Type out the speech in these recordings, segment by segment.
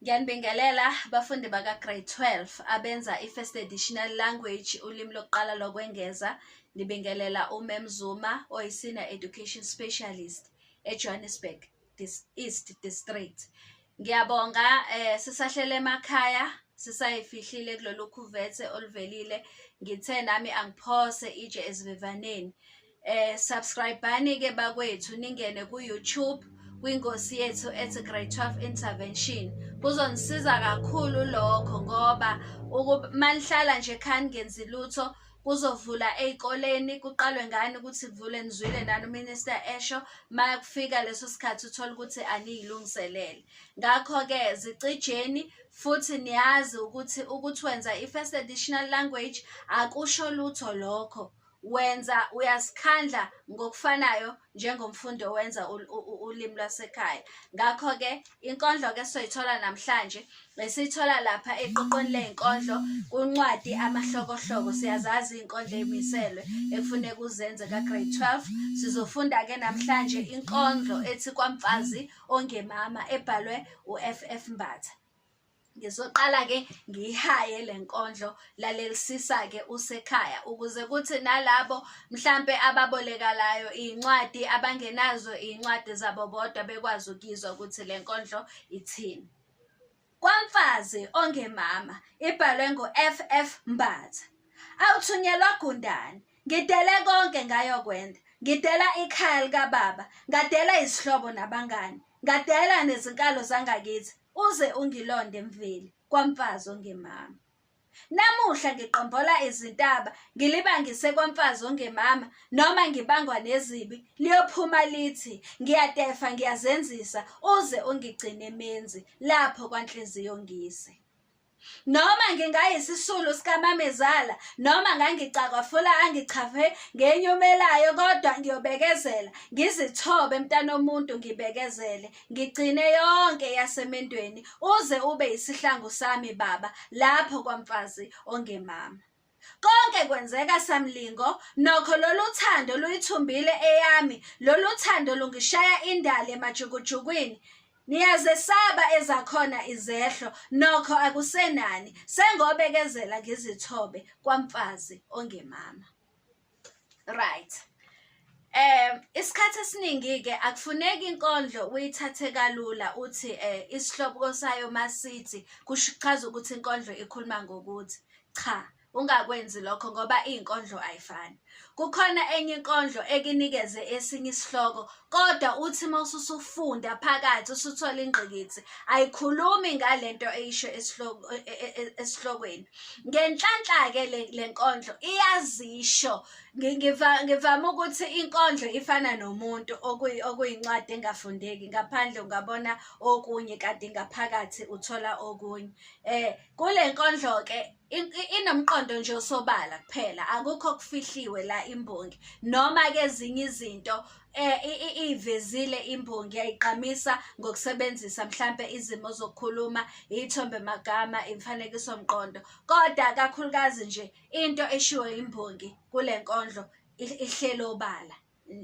Ngiyanibingelela bafundi baka-grade 12 abenza i-first additional language ulimi lokuqala lokwengeza. Ngibingelela uMem Zuma oyi-senior education specialist eJohannesburg Dis- East District. Ngiyabonga eh sisahlele emakhaya sisayifihlile kulolu khuvethe oluvelile. Ngithe nami angiphose itshe ezivivaneni. eh subscribani ke bakwethu ningene ku YouTube kwingosi yethu ethi grade 12 intervention kuzonisiza kakhulu lokho ngoba malihlala nje khani ngenzi lutho kuzovula ezikoleni kuqalwe ngani ukuthi kuvule nizwile nani uminister esho maya kufika leso sikhathi uthola ukuthi aniyilungiselele ngakho-ke zicijeni futhi niyazi ukuthi ukuthi wenza i-first additional language akusho lutho lokho wenza uyasikhandla ngokufanayo njengomfundi owenza ulimi lwasekhaya ngakho-ke inkondlo-ke soyithola namhlanje esiyithola lapha eqoqweni ley'nkondlo kuncwadi amahlokohloko siyazazi iy'nkondlo ey'miselwe ekufuneka uzenze ka-grade 12 sizofunda-ke namhlanje inkondlo ethi kwamfazi ongemama ebhalwe u-f f mbatha ngizoqala-ke ngiyihaye le nkondlo lalelisisa-ke usekhaya ukuze kuthi nalabo mhlampe ababolekalayo iy'ncwadi abangenazo iy'ncwadi zabo bodwa bekwazi ukuyizwa ukuthi le nkondlo ithini kwamfazi ongemama ibhalwe ngo-ff mbatha awuthunyelwa gundane Ngidele konke ngayokwenda. Ngidela ikhaya likababa, ngadela izihlobo nabangani, ngadela nezinkalo zangakithi uze ungilonde mveli kwamfazi ongemama. Namuhla ngiqombola izintaba ngilibangise kwamfazi ongemama noma ngibangwa nezibi liyophuma lithi ngiyatefa ngiyazenzisa uze ungigcine menzi lapho kwanhliziyo ngise. noma ngingayisisulu sikamamezala noma ngangicakwa fula angichave ngenyumelayo kodwa ngiyobekezela ngizithobe mntana omuntu ngibekezele ngigcine yonke yasemendweni uze ube isihlangu sami baba lapho kwamfazi ongemama Konke kwenzeka samlingo nokho lolu thando luyithumbile eyami lolu thando lungishaya indali emajukujukwini niyazesaba ezakhona izehlo nokho akusenani sengobekezela ngizithobe kwamfazi ongemama right eh isikhathi esiningi ke akufuneki inkondlo uyithathe kalula uthi eh isihloko sayo masithi kushichaza ukuthi inkondlo ikhuluma ngokuthi cha ungakwenzi lokho ngoba izinkondlo ayifani kukhona enye inkondlo ekinikeze esinye isihloko kodwa uthi uma ususufunda phakathi usuthola ingqikithi ayikhulumi ngale nto eyisho e, e, e, esihlokweni ngenhlanhla-ke le nkondlo iyazisho ngivame ukuthi inkondlo ifana nomuntu okuyincwadi engafundeki ngaphandle ungabona okunye kanti ngaphakathi uthola okunye um kule nkondlo-ke inomqondo nje osobala kuphela akukho okufihliwe la imbongi noma ke ezinye izinto eh, ivezile imbongi yayigqamisa ngokusebenzisa mhlambe izimo zokukhuluma ithombe magama imfanekiso mqondo kodwa kakhulukazi nje into eshiwo imbongi kule nkondlo ihlelo obala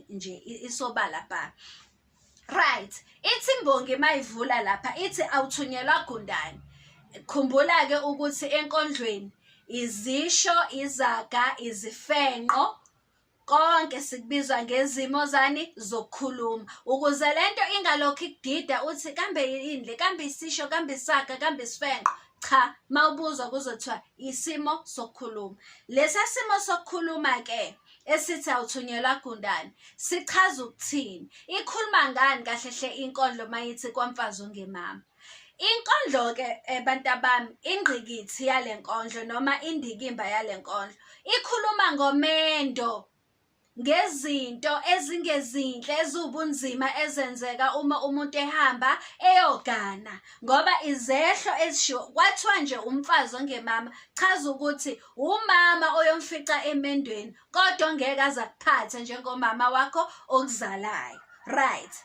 nje isobala bha right ithi imbongi mayivula lapha ithi awuthunyelwa gundane khumbula ke ukuthi enkondlweni izisho izaga izifenqo konke sikubizwa ngezimo zani zokukhuluma ukuze lento ingalokhu ikudida uthi kambe yini le kambe isisho kambe isaga kambe isifenqo cha mawubuzwa kuzothiwa isimo sokukhuluma lesa simo sokukhuluma ke esithi awuthunyelwa gundane sichaza ukuthini ikhuluma ngani kahle hle inkondlo mayithi kwamfazi ungemama inkondlo ke eh, abantu abami ingqikithi yale nkondlo noma indikimba yale nkondlo ikhuluma ngomendo ngezinto ezingezinhle eziwubunzima ezenzeka uma umuntu ehamba eyogana ngoba izehlo ezishiwo kwathiwa nje umfazi ongemama chaza ukuthi wumama oyomfica emendweni kodwa ngeke aza kuphatha njengomama wakho okuzalayo right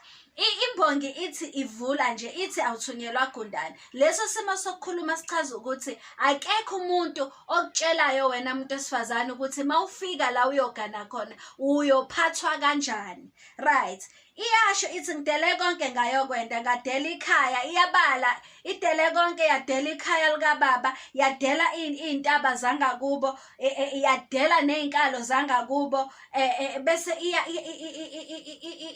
imbongi ithi ivula nje ithi awuthunyelwa gundane leso simo sokukhuluma sichaza ukuthi akekho umuntu okutshelayo wena muntu esifazane ukuthi mawufika la uyogana khona uyophathwa kanjani right iyasho ithi ngidele konke ngayokwenda ngadela ikhaya iyabala idele konke yadela ikhaya likababa yadela iy'ntaba zangakubo e, e, yadela ney'nkalo zangakubo e, bese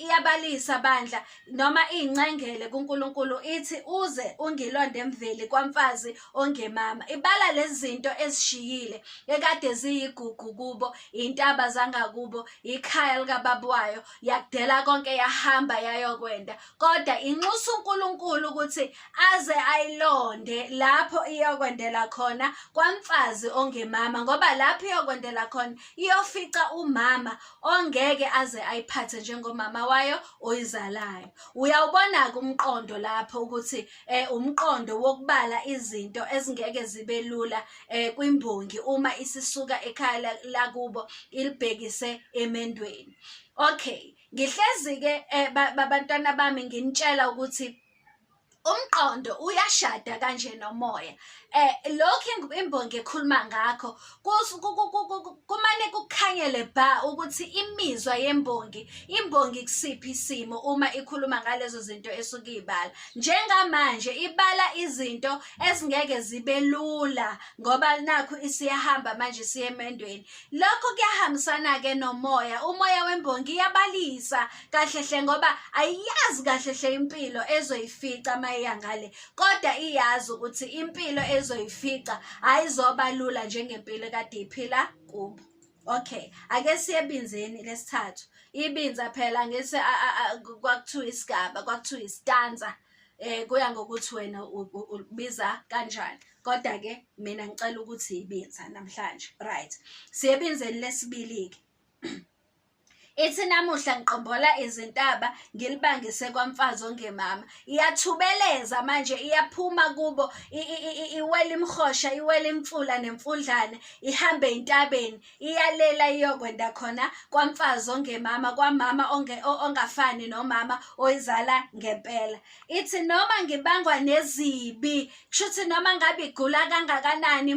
iyabalisa bandla noma iy'ncengele kunkulunkulu ithi uze ungilonde emveli kwamfazi ongemama ibala lezi zinto ezishiyile ekade ziyigugu kubo iy'ntaba zangakubo ikhaya likababa wayo yakudela konke yahamba yayokwenda kodwa inxusa uNkulunkulu ukuthi aze ayilonde lapho iyokwendela khona kwamfazi ongemama ngoba lapho iyokwendela khona iyofica umama ongeke aze ayiphathe njengomama wayo oyizalayo uyawubona ke umqondo lapho ukuthi eh umqondo wokubala izinto ezingeke zibe lula eh kwimbongi uma isisuka ekhaya lakubo ilibhekise emendweni okay ngihlezi ke eh, babantwana bami nginitshela ukuthi umqondo uyashada kanje nomoya eh lokho imbongi ekhuluma ngakho kumane kukhanyele ba ukuthi imizwa yembongi imbongi kusiphi isimo uma ikhuluma ngalezo zinto esuke ibala njengamanje ibala izinto ezingeke zibe lula ngoba nakho isiyahamba manje siyemendweni Lokho kuyahambisana-ke nomoya. Umoya wembongi iyabalisa kahlehle ngoba ayiyazi kahlehle impilo ezoyifica uma iya ngale kodwa iyazi ukuthi impilo ezoyifica ayizoba lula njengempilo kade iphila kubo okay ake siye ebinzeni lesithathu ibinza phela ngese kwakuthiwa isigaba kwakuthiwa isitanza um eh, kuya ngokuthi wena ubiza kanjani kodwa ke mina ngicela ukuthi ibinza namhlanje right siyebinzeni lesibili ke ithi namuhla ngiqombola izintaba ngilibangise kwamfazi ongemama iyathubeleza manje iyaphuma kubo iwela imhosha iwela imfula nemfundlane ihambe entabeni iyalela iyokwenda khona kwamfazi ongemama kwamama ongafani nomama oyizala ngempela ithi noma ngibangwa nezibi kushuthi noma ngabe igula kangakanani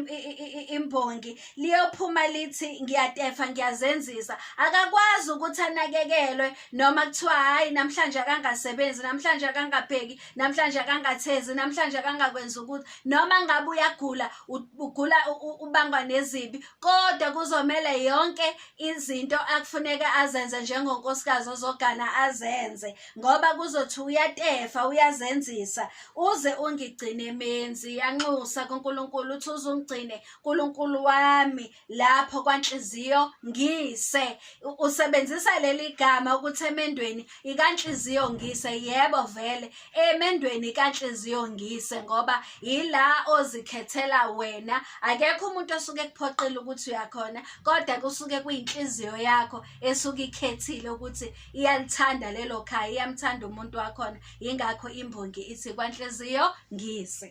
imbongi liyophuma lithi ngiyatefa ngiyazenzisa akakwazi ukuthi anakekelwe noma kuthiwa hayi namhlanje akangasebenzi namhlanje akangabheki namhlanje akangathezi namhlanje akangakwenza ukuthi noma ngabe uyagula ugula ubangwa nezibi kodwa kuzomele yonke izinto akufuneka azenze njengonkosikazi ozogana azenze ngoba kuzothi uyatefa uyazenzisa uze ungigcine menzi yanxusa kuNkulunkulu uthi uzungigcine uNkulunkulu wami lapho kwanhliziyo ngise usebenzisa leli gama ukuthi emendweni ikanhliziyo ngise yebo vele emendweni kanhliziyo ngise ngoba yila ozikhethela wena akekho umuntu osuke kuphoqile ukuthi uyakhona kodwa kusuke kuyinhliziyo yakho esuke ikhethile ukuthi iyalithanda lelo khaya iyamthanda umuntu wakhona yingakho imbongi ithi kwanhliziyo ngise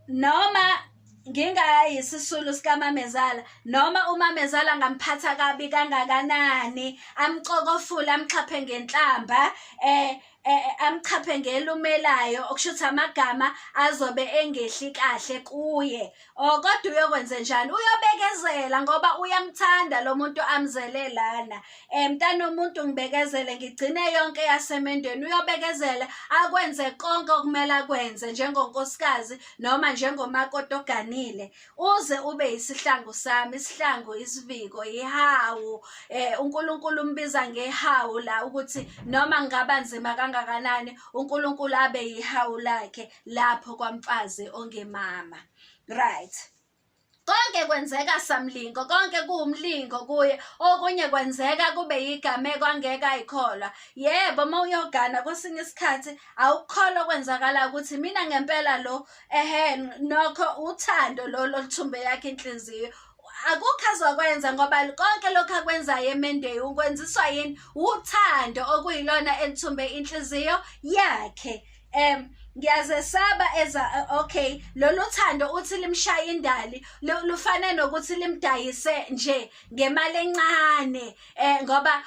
noma ngingayisisulu sikamamezala noma umamezala ngamphatha kabi kangakanani amxokofule amxhaphe ngenhlamba eh eh, eh, amchaphe ngelumelayo okusho ukuthi amagama azobe engehli kahle kuye o oh, kodwa uyokwenze njani uyobekezela ngoba uyamthanda lo muntu amzele lana um mntana omuntu ngibekezele ngigcine yonke yasemendweni uyobekezela akwenze konke okumele akwenze njengonkosikazi noma njengomakoti oganile uze ube isihlangu sami isihlangu isiviko ihawu eh uNkulunkulu umbiza ngehawu la ukuthi noma ngaba nzima kangakanani uNkulunkulu abe yihawu lakhe lapho kwamfazi ongemama right konke kwenzeka samlingo konke kuwumlingo kuye okunye kwenzeka kube yigameko angeke ayikholwa yebo uma uyogana kwesinye isikhathi awukholwa kwenzakala ukuthi mina ngempela lo ehe nokho uthando lolo luthumbe yakhe inhliziyo akukho azokwenza ngoba konke lokhu akwenzayo emendeyi ukwenziswa yini uthando okuyilona elithumbe inhliziyo yakhe um ngiyazesaba eza okay lolu thando uthi limshaya indali lufane nokuthi limdayise nje ngemali encane eh ngoba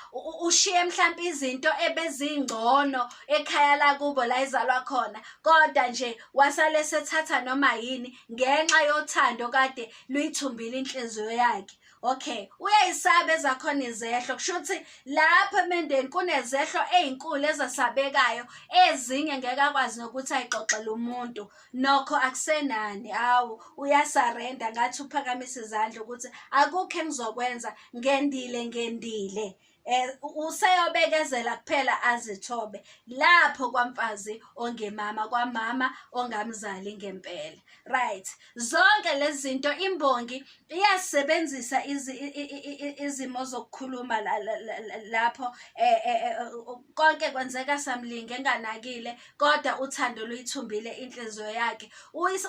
ushiye mhlawumbe izinto ebezingcono ekhaya lakubo la izalwa khona kodwa nje wasale sethatha noma yini ngenxa yothando kade luyithumbile inhliziyo yakhe okay uyayisaba ezakhona izehlo kusho ukuthi lapho emendeni kunezehlo ezinkulu ezasabekayo ezinye ngeke akwazi nokuthi ayixoxele umuntu nokho akusenani awu uyasarenda ngathi uphakamisa izandla ukuthi akukho engizokwenza ngendile ngendile eh useyobekezela kuphela azithobe lapho kwamfazi ongemama kwamama ongamzali ngempela right zonke lezi zinto imbongi iyasebenzisa izimo zokukhuluma lapho eh, eh, eh konke kwenzeka samlinge enganakile kodwa uthando luyithumbile inhliziyo yakhe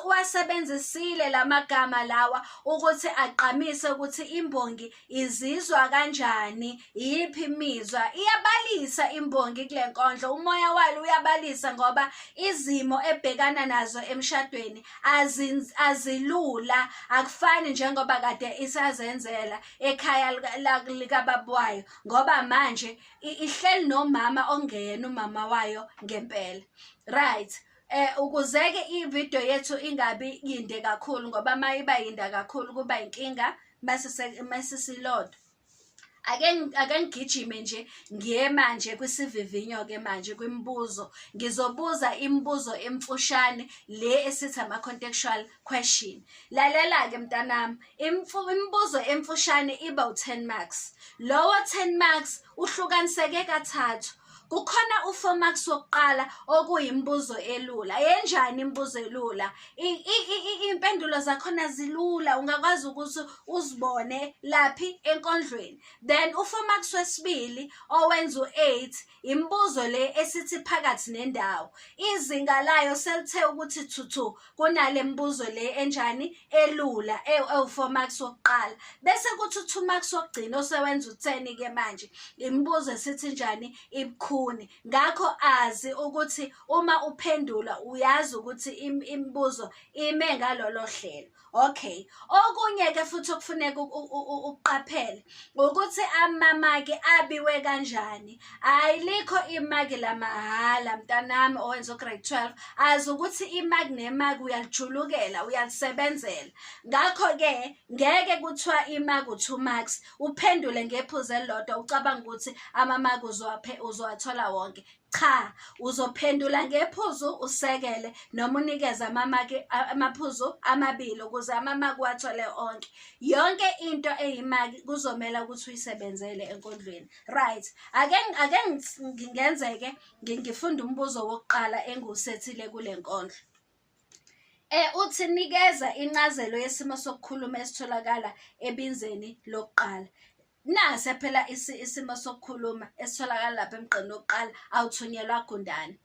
uwasebenzisile la magama lawa ukuthi agqamise ukuthi imbongi izizwa kanjani iyiphi imizwa iyabalisa imbongi kule nkondlo umoya walo uyabalisa ngoba izimo ebhekana nazo emshadweni azilula akufani njengoba kade isazenzela ekhaya likababa wayo ngoba manje i- ihleli nomama ongeyena umama wayo ngempela right eh ukuzeke ivideo yethu ingabi yinde kakhulu ngoba uma iba yinda kakhulu kuba inkinga masisilodo ake ngi- ake ngigijime nje ngiye manje kwisivivinyo ke manje kwimibuzo ngizobuza imibuzo emfushane le esithi ama-contextual question lalela-ke mntanami imibuzo emfushane iba u-10 marks lowo 10 marks uhlukaniseke kathathu kukhona u-four marks wokuqala okuyimibuzo elula yenjani imibuzo elula iy'mpendulo zakhona zilula ungakwazi ukuthi uzibone laphi enkondlweni then u-four marks wesibili owenza u-eight imibuzo le esithi phakathi nendawo izinga layo selithe ukuthi thuthu kunale mbuzo le enjani elula ewu-four marks wokuqala bese kuthi u-two marks wokugcina osewenza utheni-ke manje imibuzo esithi njani ibukhuni ngakho azi ukuthi uma uphendula uyazi ukuthi imibuzo ime ngalolo hlelo okay okunye-ke futhi okufuneka ukuqaphele ukuthi amamaki abiwe kanjani hayi likho imaki lamahhala mntanami owenza ugrade 12 azi ukuthi imaki nemaki uyalijulukela uyalisebenzela ngakho-ke ngeke kuthiwa imaki u-two marks uphendule ngephuzu elilodwa ucabanga ukuthi amamaki uzowathola wonke Cha, uzophendula ngephuzu usekele noma unikeze amamaki amaphuzu amabili ukuze amamaki uwathole onke. Yonke into eyimaki kuzomela ukuthi uyisebenzele enkondlweni. Right. Ake ake ngingenzeke ngifunda umbuzo wokuqala engiwusethile kule nkondlo. Eh uthi nikeza incazelo yesimo sokukhuluma esitholakala ebinzeni lokuqala. nase phela isimo sokukhuluma esitholakala lapha emgqeni wokuqala awuthunyelwa gundane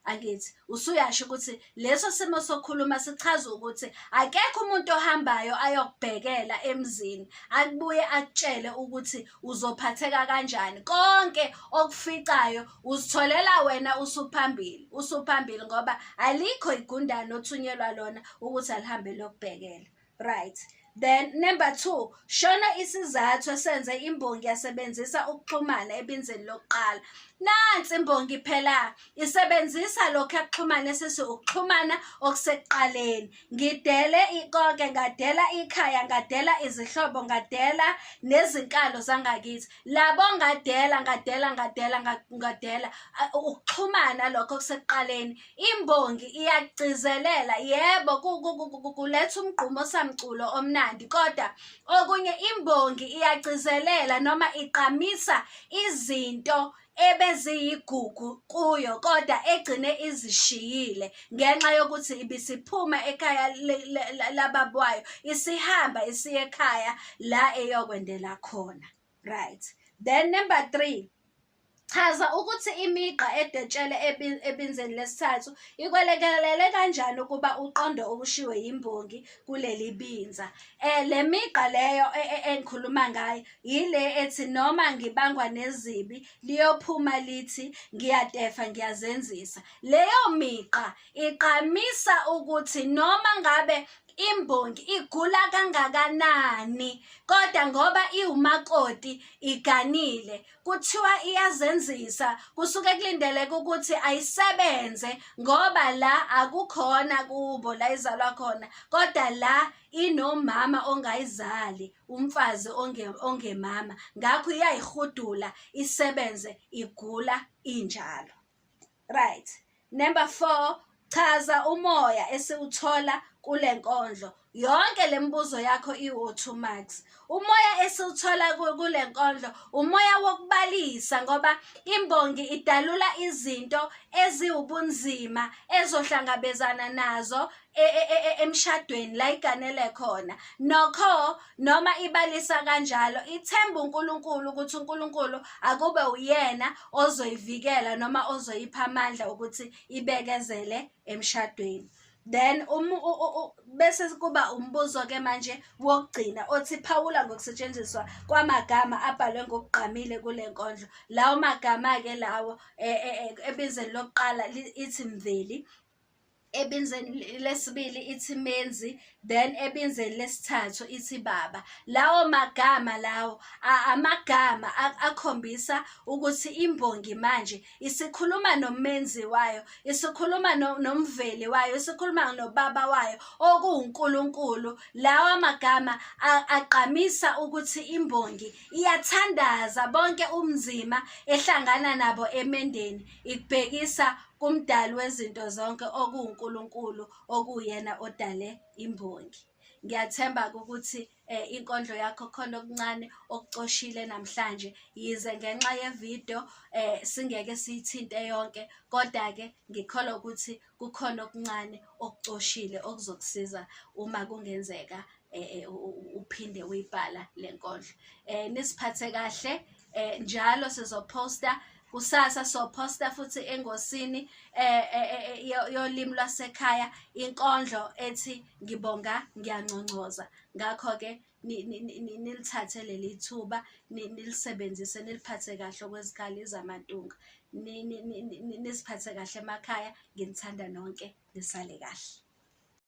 angithi usuyasho ukuthi leso simo sokhuluma sichaza ukuthi akekho umuntu ohambayo ayokubhekela emzini akubuye akutshele ukuthi uzophatheka kanjani konke okuficayo uzitholela wena usuphambili usuphambili ngoba alikho igundane othunyelwa lona ukuthi alihambe lokubhekela Right. Then number two, shona isizathu esenze imbongi yasebenzisa ukuxhumana ebinzeni lokuqala. Nansi imbongi phela isebenzisa lokho akuxhumana esisi ukuxhumana okusekuqaleni. Ngidele ikonke, ngadela ikhaya, ngadela izihlobo, ngadela nezinkalo zangakithi. Labo ngadela, ngadela, ngadela, ngadela ukuxhumana lokho okusekuqaleni. Imbongi iyakugcizelela yebo kuletha umgqumo samculo omnandi kodwa okunye imbongi iyagcizelela noma iqamisa izinto ebeziyigugu kuyo kodwa egcine izishiyile ngenxa yokuthi ibisiphuma ekhaya lababwayo isihamba isiye ekhaya la eyokwendela khona. right then number three chaza ukuthi imigqa edetshele ebinzeni lesithathu ikwelekelele kanjani ukuba uqonde okushiwe yimbongi kuleli binza um le migqa leyo e, e, engikhuluma ngayo yile ethi noma ngibangwa nezibi liyophuma lithi ngiyadefa ngiyazenzisa leyo migqa igqamisa ukuthi noma ngabe imbongi igula kangakanani kodwa ngoba iwumakoti iganile kuthiwa iyazenzisa kusuke kulindeleke ukuthi ayisebenze ngoba la akukhona kubo la izalwa khona kodwa la inomama ongayizali umfazi ongemama ngakho iyayihudula isebenze igula injalo right number 4 chaza umoya esiwuthola kule nkondlo yonke le mibuzo yakho iwu-two marks umoya esiwuthola kule nkondlo umoya wokubalisa ngoba imbongi idalula izinto eziwubunzima ezohlangabezana nazo e, e, e, emshadweni la iganele khona nokho noma ibalisa kanjalo ithemba uNkulunkulu ukuthi uNkulunkulu akube uyena ozoyivikela noma ozoyipha amandla ukuthi ibekezele emshadweni then um, bese kuba umbuzo ke manje wokugcina othi phawula ngokusetshenziswa kwamagama abhalwe ngokugqamile kule nkondlo lawo magama ke lawo e, e, e, ebizeni lokuqala ithi mveli ebinzeni lesibili ithi menzi then ebinzeni lesithathu ithi baba lawo magama lawo amagama akhombisa ukuthi imbongi manje isikhuluma nomenzi wayo isikhuluma nomveli wayo isikhuluma nobaba wayo okuwuNkulunkulu lawa magama agqamisa ukuthi imbongi iyathandaza bonke umzima ehlangana nabo emendeni Ikubhekisa kumdali wezinto zonke okuwuNkulunkulu okuyena odale imbongi. Ngiyathemba ukuthi eh, inkondlo yakho khona okuncane okucoshile namhlanje yize ngenxa yevideo eh, singeke siyithinte yonke kodwa-ke ngikholwa ukuthi kukhona okuncane okucoshile okuzokusiza uma kungenzeka eh, eh, uphinde uyibhala le nkondlo um nisiphathe kahle um njalo sizoposta kusasa sophosta futhi engosini eh, eh, eh, yolimi lwasekhaya inkondlo ethi ngibonga ngiyanconcoza ngakho-ke nilithathe leli thuba nilisebenzise niliphathe kahle okwezikhala izamantunga nisiphathe kahle emakhaya nginithanda nonke nisale kahle